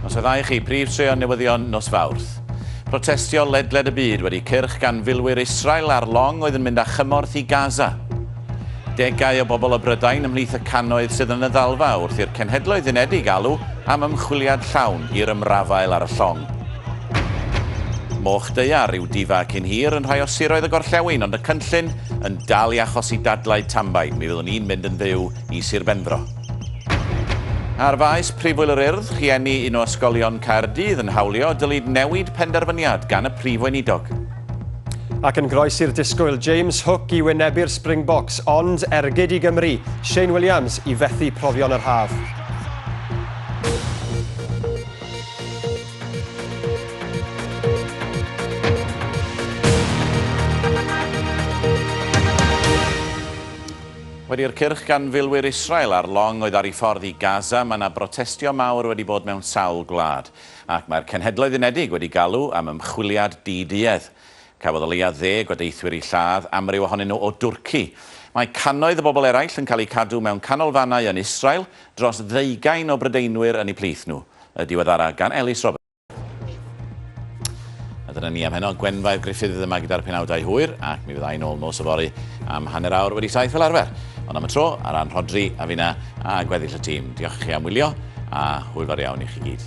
Nos y ddau chi, prif treon newyddion nos Fawrth. Protestio ledled y byd wedi cyrch gan filwyr Israel ar long oedd yn mynd â chymorth i Gaza. Degau o bobl o Brydain ymhlith y cannoedd sydd yn y ddalfa wrth i'r Cenhedloedd Unedig alw am ymchwiliad llawn i'r ymrafael ar y llong. Moch Deiar yw difa cyn hir yn rhai o siroedd y gorllewin, ond y cynllun yn dal i achosi dadlau tambain. Mi fyddwn ni'n mynd yn fyw i Sir Benfro. Ar faes Prifwyl yr Urdd, rhieni un o ysgolion Caerdydd yn hawlio dylid newid penderfyniad gan y Prif Weinidog. Ac yn groes i'r disgwyl, James Hook i wynebu'r Springboks, ond ergyd i Gymru, Shane Williams i fethu profion yr haf. Wedi i'r cyrch gan filwyr Israel ar long oedd ar ei ffordd i Gaza, mae yna brotestio mawr wedi bod mewn sawl gwlad, ac mae'r Cenhedloedd Unedig wedi galw am ymchwiliad di-duedd. Cafodd o leia' ddeg o deithwyr eu lladd, amryw ohonyn nhw o Dwrci. Mae cannoedd o bobl eraill yn cael eu cadw mewn canolfannau yn Israel, dros ddeugain o Brydeinwyr yn eu plith nhw. Y diweddara' gan Elis Roberts. A dyna ni am heno, Gwenfair Griffith yma gyda'r penawdau hwyr, ac mi fyddai'n ôl nos o fori am hanner awr wedi saith fel arfer. Ond am y tro, ar ran Rhodri, a fina, a gweddill y tîm, diolch i chi am wylio, a hwyl fawr iawn i chi gyd.